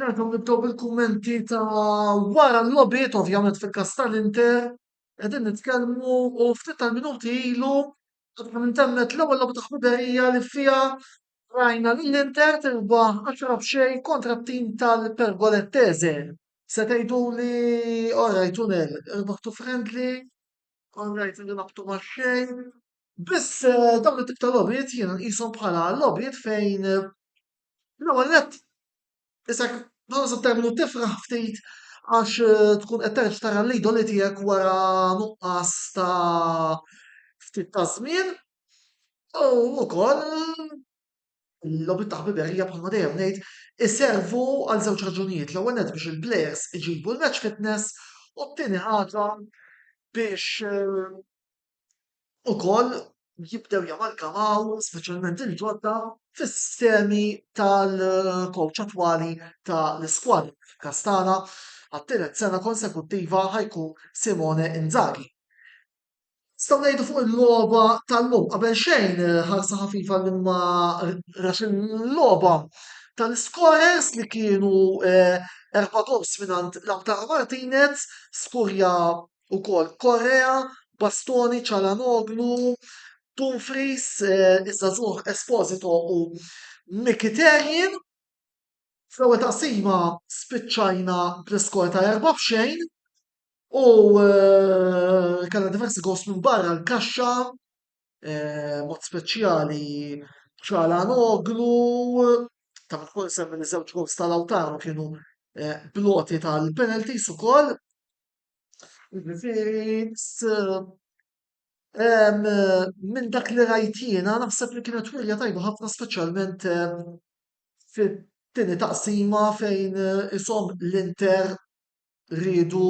Nerġgħu nibdew bil-kummenti ta' wara l-logħbiet, ovvjament fil-każ tal-Inter, qegħdin nitkellmu u ftit tal-minuti ilu qatt ma temmet l-ewwel logħba ta' ħbiberija li fiha rajna lill-Inter tirbaħ għaxra b'xejn kontra t-tim tal-Pergolettese. Se tgħiduli orajt u nel, irbaħtu friendly, orajt li tlabtu max-xejn, Biss eh, dawn it-tip ta' logħbiet jiena nqishom bħala logħbiet fejn eh, l-ewwel nett isek dawn se terminu tifraħ ftit għax eh, tkun qed terġa' tara l-idoli tiegħek wara nuqqas ta' ftit ta' żmien u wkoll l-logħbiet ta' ħbiberija bħalma dejjem ngħid iservu għal żewġ raġunijiet l-ewwel nett biex il-players iġibu l-match fitness u t-tieni ħaġa biex ukoll jibdew jamalgamaw speċjalment il-ġodda fis-sistemi tal-kowċ attwali ta' l-iskwadra. Fil-każ tagħna, għat-tielet sena konsekuttiva ħajkun Simone Inzaghi. Staw ngħidu fuq il-logħba tal-lum qabel xejn ħarsa ħafifa li ma rax il-logħba tal-iskores li kienu eh, erba' gols mingħand Lautaro Martinez, skurja ukoll, Correa, Bastoni, Calhanoglu, Dumfries, iż-żagħżugħ Esposito u Mkhitaryan. Fl-ewwel taqsima spiċċajna bl-iskor ta' erba' b'xejn u eh, kellna diversi gost minn barra l-kaxxa, eh, mod speċjali Calhanoglu, ta' minn semmi li żewġ gost tal-Awtaru kienu eh, bloti tal-penalties ukoll. Minn dak li rajt jiena naħseb li kienet wirja tajba ħafna speċjalment fit-tieni taqsima fejn ishom l-Inter riedu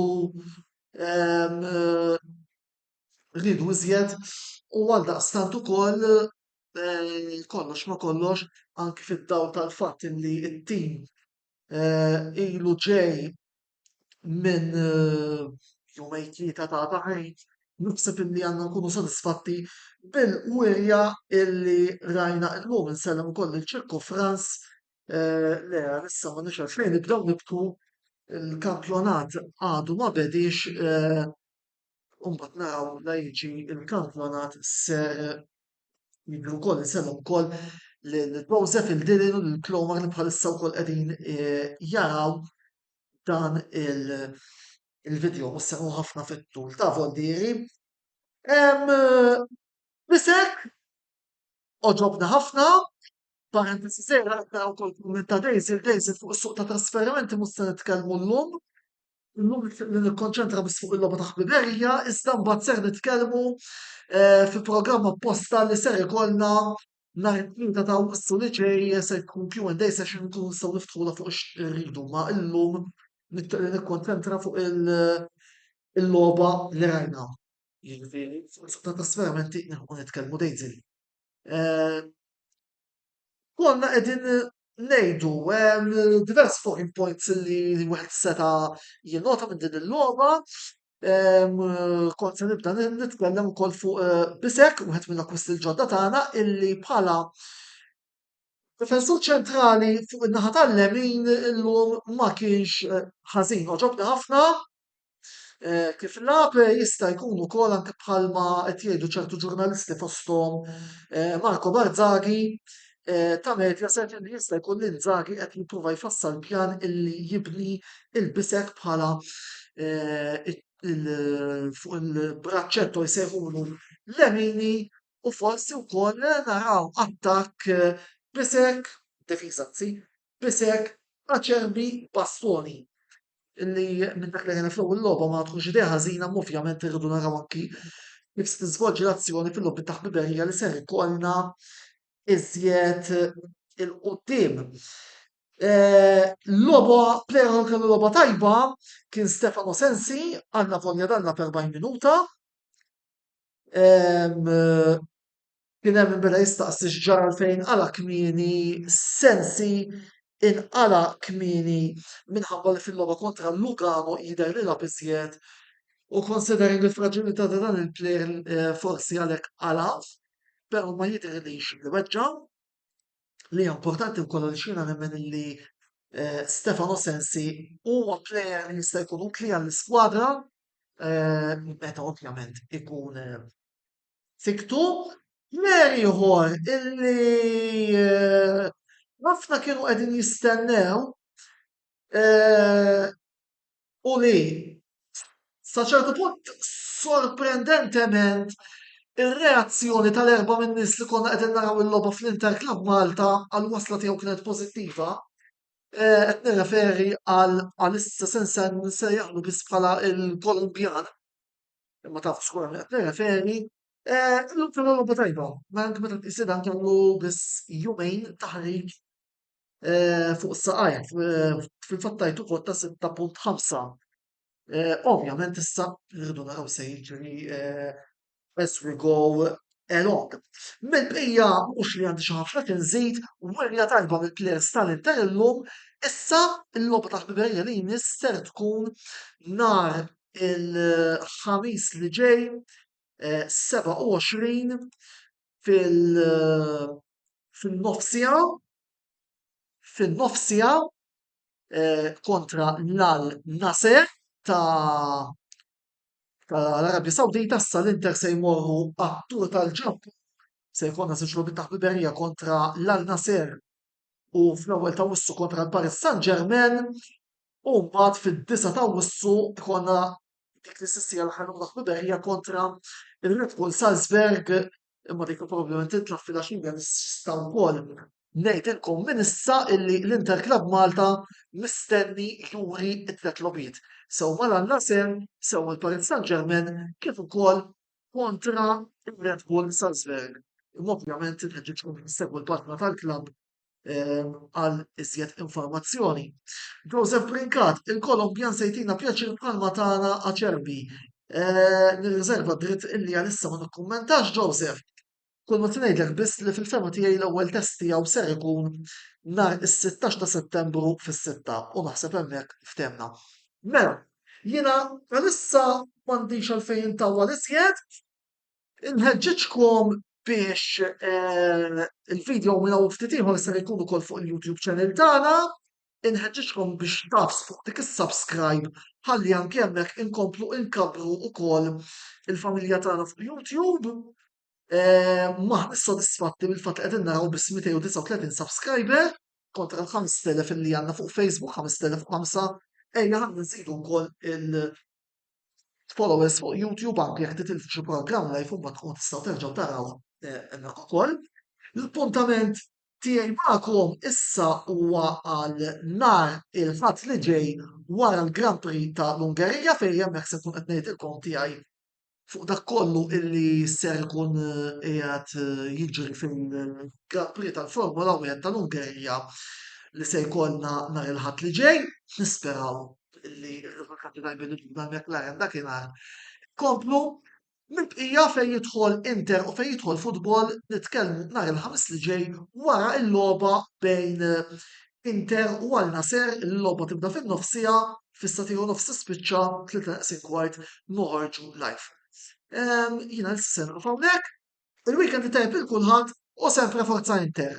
riedu iżjed u għaldaqstant ukoll kollox ma' kollox anki fid-dawl tal-fatt li t-tim ilu ġej minn jumejn tlieta ta' taħriġ, naħseb illi għandna nkunu sodisfatti bil-wirja illi rajna illum. Insellem ukoll lil Ċirku Frans, le issa m'għandniex għalfejn nibdew nibku, il-kampjonat għadu ma bediex, U mbagħad naraw la jiġi il-kampjonat ser jibdu wkoll insemmu wkoll l-Joseph il-Dilin u l-Klomar li bħalissa wkoll qegħdin e, jaraw dan il-video mhux se ħafna fit-tul ta' voldieri. Bisek Għoġobna ħafna. Parentesi żgħira qed naraw ukoll kumment ta' Daisy, il-Daisy fuq is-suq ta' trasferimenti mhux se nitkellmu llum. Illum nixtieq li nikkonċentra biss fuq il-logħba ta' ħbiberija, iżda mbagħad ser nitkellmu eh, fi programm apposta li ser ikollna nhar it-tlieta ta' Awwissu li ġej se jkun Q&A session nkunu nistgħu niftħula fuq x'irridu ma illum nixtieq li nikkonċentra fuq il- il-logħba li rajna. Jiġifieri, fuq il-fatt ta' trasferimenti nilħqu nitkellmu dejn żied. Eh, konna qegħdin ngħidu hemm diversi talking points li wieħed seta' jinnota minn din il-logħba. Ehm, kont se nibda nitkellem ukoll fuq eh, Bisek, wieħed mill-akkwisti l-ġodda tagħna, illi bħala Difensur ċentrali fuq in-naħa tal-lemin illum ma kienx eh, ħażin, oġobni ħafna eh, kif lab eh, jista' jkun ukoll anke bħalma qed jgħidu ċertu ġurnalisti fosthom Marco Barzaghi ta' medja set li jista' jkun li Nzaghi qed jipprova jfassal pjan illi jibni il-bisek bħala fuq il-braċċetto jsejħulu lemini u forsi wkoll naraw attakk b'isek, difiża anzi, b'isek aċerbi b'bastuni li minn dak li rajna fl-ewwel logħba ma tkunx idea ħażina imma ovvjament irridu naraw anki kif se tiżvolġi l-azzjoni fil-logħbiet ta' ħbiberija li ser ikollna iżjed il-quddiem. Eh, logħba plejer li kellu logħba tajba kien Stefano Sensi għandna volja danna per 40 minuta. Kien hemm min beda jistaqsi x'ġara għalfejn inqala' kmieni, sensi inqala' kmieni minħabba li fil-logħba kontra Lugano jidher li lagħab iżjed u considering il-fraġilità ta' dan il-plejer forsi għalhekk qala', però ma jidhirlix li weġġa'. li hija importanti wkoll għaliex jiena nemmen li eh, Stefano Sensi huwa plejer li jista' jkun utli għall-iskwadra eh, meta ovvjament ikun eh, fiktu. Mer ieħor illi ħafna kienu qegħdin jistennew u li, sa ċertu punt, sorprendentement, ir-reazzjoni tal-erbgħa minn nies li konna qegħdin naraw il-logħba fl-Inter Club Malta għall-wasla tiegħu kienet pożittiva. Eh, qed nirreferi għal għalissa se nsejjaħlu biss bħala il-Kolumbjan, imma taf xkura minn qed nirreferi. Eh, l-lum kellu logħba tajba, ma anke meta tqisidha kellu biss jumejn taħrik fuq saqajja fil-fatt tajt ukoll ta' 6.5. Ovvjament issa rridu naraw se jiġri as we go along. Mill-bqija mhux li għandi xi ħafna tinżid, wirja tajba mill-players tal-Inter illum, issa l-logħba ta' ħbiberija li jmiss ser tkun nhar il-ħamis li ġej 27 fin-nofsija fin-nofsija kontra l-Al Nassr ta' tal-Arabja Sawdita issa l-Inter se jmorru għat-tour tal-Ġappun se jkollna żewġ logħbiet ta' ħbiberija kontra l-Al Nassr u fl-ewwel ta' Wissu kontra l-Paris Saint-Germain u mbagħad fid-9 ta' Wissu jkollna dik li sissija l-aħħar logħba ħbiberija kontra il-Red Bull Salzburg imma dik probabbilment titlaq fil-għaxija nista' wkoll ngħidilkom minn issa illi l-Inter Club Malta mistenni juri t-tliet logħbiet sew mal-Al Nassr, sew mal-Paris Saint-Germain kif ukoll kontra ir-Red Bull Salzburg. Imma ovvjament inħeġġiġkom issegwu l-paġna tal-klabb ehm, għal iżjed informazzjoni. Joseph Brinkat, il-Kolombjan se jtina pjaċir bħalma tagħna aċerbi. Eh, nirriżerva dritt illi għalissa ma nikkummentax Joseph. Kull ma se ngħidlek biss li fil-fehma tiegħi l-ewwel test tiegħu ser ikun nhar is-sittax ta' Settembru fis-sitta u naħseb hemmhekk ftehmna. Mela, jiena għalissa m'għandix għalfejn intawwal iżjed, inħeġġiġkom biex eh, il-video minn hawn ftit ieħor ser ikun ukoll fuq il-YouTube channel tagħna inħeġġiġkom biex tafs fuq dik is-subscribe ħalli anki hemmhekk inkomplu inkabbru wkoll il-familja tagħna fuq YouTube. Maħniex sodisfatti mill-fatt li qegħdin naraw biss 239 subscriber kontra l-5000 li għandna fuq Facebook, 5005, ejja ħalli nżidu wkoll il- followers fuq YouTube anke jekk titilfu xi programm live u mbagħad tkunu tistgħu terġgħu taraw eh, hemmhekk ukoll. L-appuntament tiegħi magħkom issa huwa għal nar il-ħadd li ġej wara l-Grand Prix ta' l-Ungerija fejn hemmhekk se tkun qed ngħidilkom tiegħi fuq dak kollu illi ser ikun eh, qiegħed eh, jiġri fil-Grand Prix tal-Formula 1 tal-Ungerija li se jkollna nar il-ħadd li ġej, nisperaw li r-riżultati tajbin ta' McLaren dakinhar komplu minn bqija fejn jidħol Inter u fejn jidħol futbol nitkellmu nhar il-ħamis li ġej wara l-logħba bejn Inter u għal Nasser il-logħba tibda fin-nofsija fissa tieħu nofs tispiċċa tlieta naqsin kwart noħorġu live. Ehm, Jiena l-sen hawnhekk, il-weekend tajb il-kulħadd u sempre forza Inter.